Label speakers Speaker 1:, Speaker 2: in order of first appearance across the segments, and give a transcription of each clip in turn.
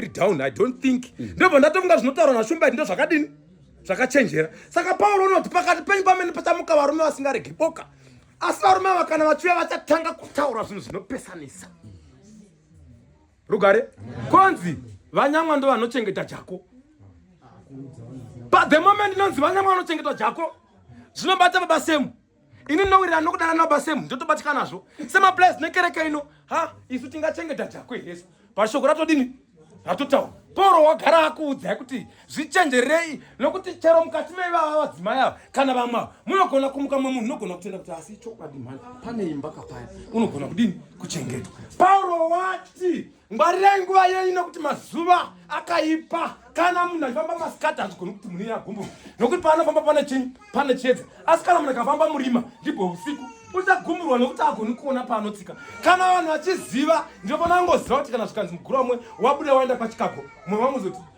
Speaker 1: very down i don't think mm. ndobva ndatofunga zvinotaurwa nashumbaiti ndo zvakadini zvakachenjera saka pauro unoti pakati penyu pamene pachamuka varume vasingaregi boka asi varume ava kana vachiuya vachatanga kutaura zvinhu zvinopesanisa rugare konzi vanyamwa ndo vanochengeta jako but the moment inonzi vanyamwa vanochengeta jako zvinobata baba semu ini ndinowirira nokudana nababa semu ndotobatyikanazvo semaplus nekereke ino ha isu tingachengeta chakwe hesu pashoko ratodini ratotaura poro wagara akuudzai kuti zvichenjerei nokuti chero mukati meivava vadzimai ava kana vamwe ava munogona kumuka mwe munhu unogona kutenda kuti asi chokwadi mhani pane imba kapaya unogona kudini kuchengetwa pauro wati Ngwarirai nguva yenyu nokuti mazuva akaipa. Kana munhu achifamba masikati hazvigoni kuti munhu iye agumbuka nokuti paanofamba pane chinyi pane chiedza. Asi kana munhu akafamba murima ndibwo usiku uchagumburwa nokuti agoni kuona paanotsika. Kana vanhu vachiziva ndinofanira kungoziva kuti kana zvikanzi mugura umwe wabuda waenda kwaChicago mumwe vamuzoti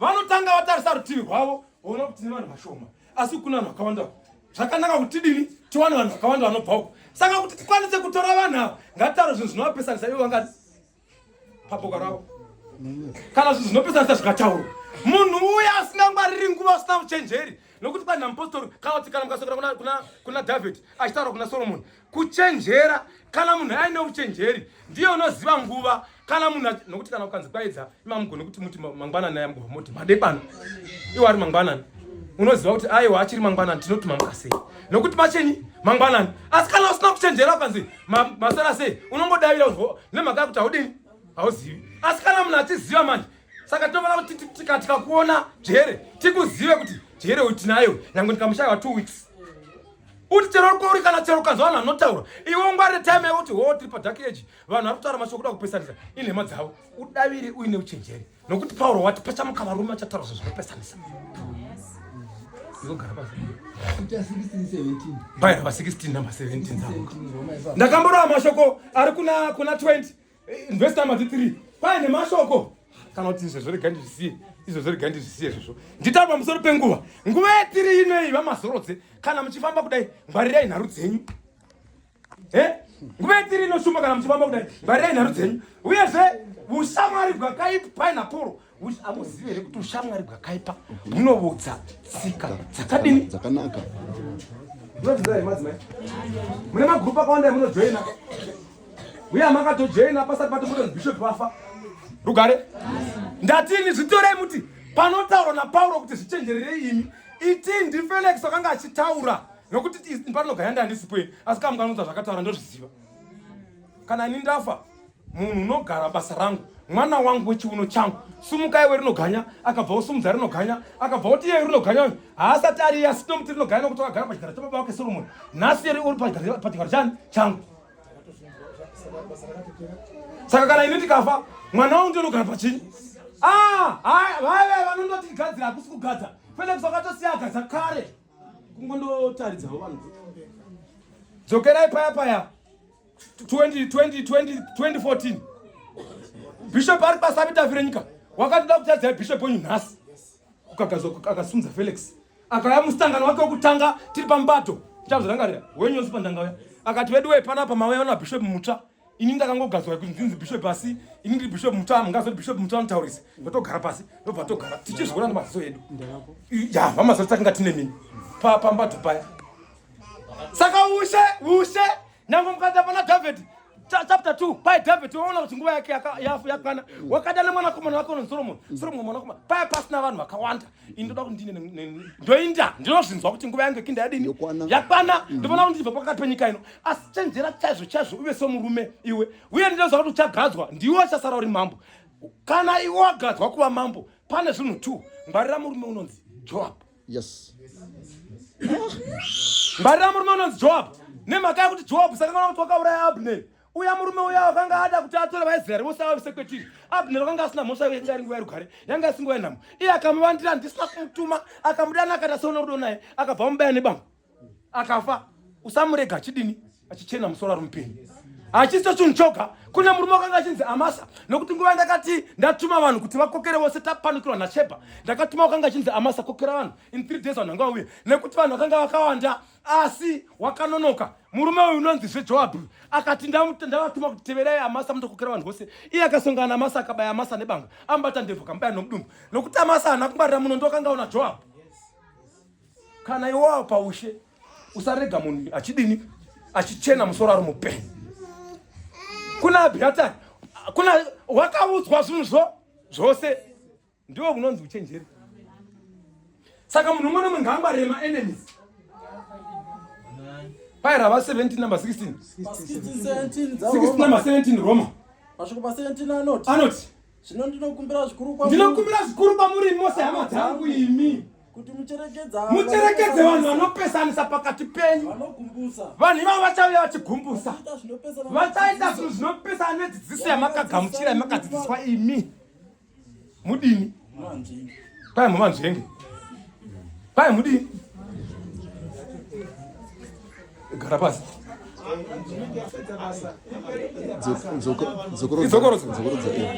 Speaker 1: vanotanga vatarisa rutivi rwavo voona kuti tine vanhu vashoma asi kuna vanhu vakawanda zvakanaka kuti dini tiwane vanhu vakawanda vanobva uko saka kuti tikwanise kutora vanhu ava ngatitaure zvinhu zvinovapesanisa ivo vangati paboka ravo kana zvinhu zvinopesanisa zvikataurwa munhu uya asingangwariri nguva usina uchenjeri nokuti panhampostori kana kuti kana mukasokera kuna david achitaura kuna solomoni kuchenjera kana munhu aine uchenjeri ndiye unoziva nguva kana munhu nokuti kana ukanzi kwaedza imamugone kuti muti mangwanani aya mugova moti madekwana iwo ari mangwanani unoziva kuti aiwa achiri mangwanani tinoti mamuka sei nokuti machenyi mangwanani asi kana usina kuchenjera ukanzi masara sei unongodavira nemhaka yakuti haudini hauzivi asi kana munhu achiziva manje saka tinofanira kuti tikakuona jere tikuzive kuti jere uyu tinayo nyange ndikamushaiwa two weeks uti chero kwauri kana chero ukanzwa vanhu vanotaura iwe ungwarire time yako kuti hoo tiri padark age vanhu vari kutaura mashoko kuda kupesanisa inhema dzavo udaviri uine uchenjeri nokuti pauro wati pachamuka varume achataura zvo zvinopesanisa baira va 16 namba 17 ndakamborova mashoko ari kuna 20 Eh, verse number 3 kwaye nemashoko kana kuti izvezvo rega ndizvisiye izvezvo rega ndizvisiye izvezvo nditaura pamusoro penguva nguva yetiri inei vamazorodze kana muchifamba kudai ngwarirai nharu dzenyu e nguva yetiri inoshuma kana muchifamba kudai ngwarirai nharu dzenyu uyezve ushamwari bwakaipi painaporo amuzive here kuti ushamwari bwakaipa hunovodza tsika dzakadini dzakanaka
Speaker 2: munozviziva here
Speaker 1: madzimai mune magurupu akawanda emunojoina uye amakatojoina pasati patomboto bishop wafa rugare ndatini zvitorei muti panotaurwa napauro kuti zvichenjererei imi itii ndifelix akanga achitaura nokuti parinogaya ndandisipo asi kamukanodza zvakataura ndozviziva kana ini ndafa munhu unogara basa rangu mwana wangu wechiuno changu sumuka iwe rinoganya akabva osumudza rinoganya akabva oti iye rinoganya uyu haasati ari iye asino muti rinoganya nokuti wakagara pachigaro chababa wake soromoni nhasi yeri uri pachigaro chani changu saka kana ini ndikafa mwana wangu ndiyo unogara pachinyi ah, vaive vanondoti gadzira hakusi kugadza felix wakatosiya agadza kare kungondotaridzawo vanhu dzokerai paya paya 2014 bishop ari basa vitafi renyika wakatoda kutadzai bishop wenyu nhasi kukagadzwa akasimudza felix akaya musangano wake wekutanga tiri pamubato chazvirangarira wenyonzi pandangauya akati vedu wee panapa mauya na bishop mutsva ini ndakangogadzwa kuti ndinzi bishop asi ini ndiri bishop mutsva mungazoti bishop mutsva anotaurisa ndotogara pasi ndobva togara tichizviona nemaziso edu ya vamazoti takanga tine mini pambato paya Saka ushe ushe nangu mukanda pana David chapter 2 pai David waona kuti nguva yake yakwana wakada nemwana komana wake unonzi Solomon mm. Solomon mwana komana pai pasina vanhu vakawanda indoda kuti ndine ndoinda ndinozvinzwa kuti nguva yangu kinda yadini yakwana mm. ndofana kuti ndibva pakati penyika ino asi chenjera chaizvo chaizvo uve somurume iwe uye ndinoziva kuti uchagadzwa ndiwe wachasara uri mambo kana iwe wagadzwa kuva mambo pane zvinhu two ngwarira murume unonzi Joab yes ngwarira murume unonzi joab nemhaka yakuti joab saka kana kuti wakauraya abner uya murume uya wakanga ada kuti atore vaisraeri vose avavise kwetiri abner wakanga asina mhosva yake yanga ari nguva yerugare yanga asi nguva yenhamo iye akamuvandira ndisina kumutuma akamudana akaita seona rudo naye akabva amubaya nebamba akafa usamurega achidini achichena musoro ari mupenyu hachiso chinhu choga kune murume wakanga achinzi amasa nokuti nguva ndakati ndatuma vanhu kuti vakokere vose tapanukirwa nasheba ndakatuma wakanga achinzi amasa kokera vanhu in three days vanhu vanga vauya nekuti vanhu vakanga vakawanda asi wakanonoka murume uyu unonzi zvejoabhi akati ndavatuma kuti teverai amasa mundokokera vanhu vose iye akasongana namasa akabaya amasa nebanga amubata ndebvu kamubaya nomudumbu nokuti amasa haana kungwarira muno ndokanga una joabhi kana iwawo paushe usarega munhu achidini achichena musoro ari mupenyu kuna abhiatari kuna wakaudzwa zvinhu zvo zvose ndiwo unonzi uchenjeri saka munhu umwe nomwe ngaangwarire maenemies paye rava 17 number 16 number 17 roma
Speaker 3: anoti zvino
Speaker 1: ndinokumbira
Speaker 3: zvikuru kwamuri ndinokumbira zvikuru kwamuri
Speaker 1: mose hama dzangu imi kuti mucherekedza
Speaker 3: mucherekedze
Speaker 1: vanhu vanopesanisa pakati penyu vanhu
Speaker 3: ivavo vachauya
Speaker 1: vachigumbusa vachaita zvinhu zvinopesana nedzidziso yamakagamuchira yamakadzidziswa imi mudini kwai mumanzvenge kwai mudini gara pasi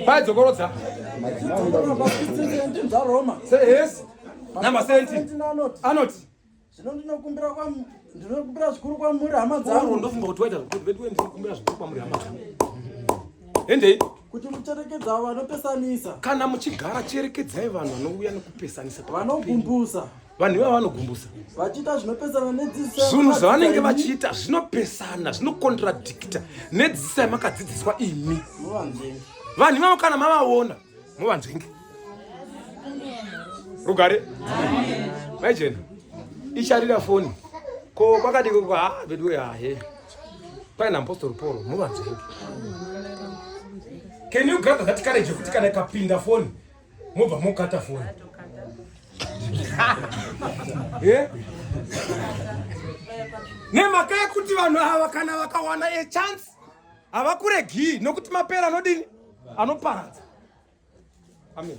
Speaker 1: pai dzokorodza namasenti anoti zvino ndinokumbira
Speaker 3: ndinokumbira zvikuru kwamuri hama dzangu ndofunga kuti waita zvekuti veduwe
Speaker 1: ndinokumbira zvikuru kwamuri hama dzangu endei kuti
Speaker 3: mucherekedza vanopesanisa kana muchigara
Speaker 1: cherekedzai vanhu vanouya nekupesanisa vanogumbusa
Speaker 3: vanhu ivava
Speaker 1: vanogumbusa vachiita zvinopesana
Speaker 3: nedzidziso zvinhu zvavanenge
Speaker 1: vachiita zvinopesana zvinokontradikita nedzidziso yamakadzidziswa imi vanhu ivavo kana mavaona movanzenge rugare maijena icharira foni ko kwakadii koko ha ah, veduwe hahe paina apostol paul movanzenge can you gather that courage yekuti kana ikapinda foni mobva mokata foni eh? nemhaka yekuti vanhu ava kana vakawana a chance havakuregii nokuti mapera anodini anoparadza amen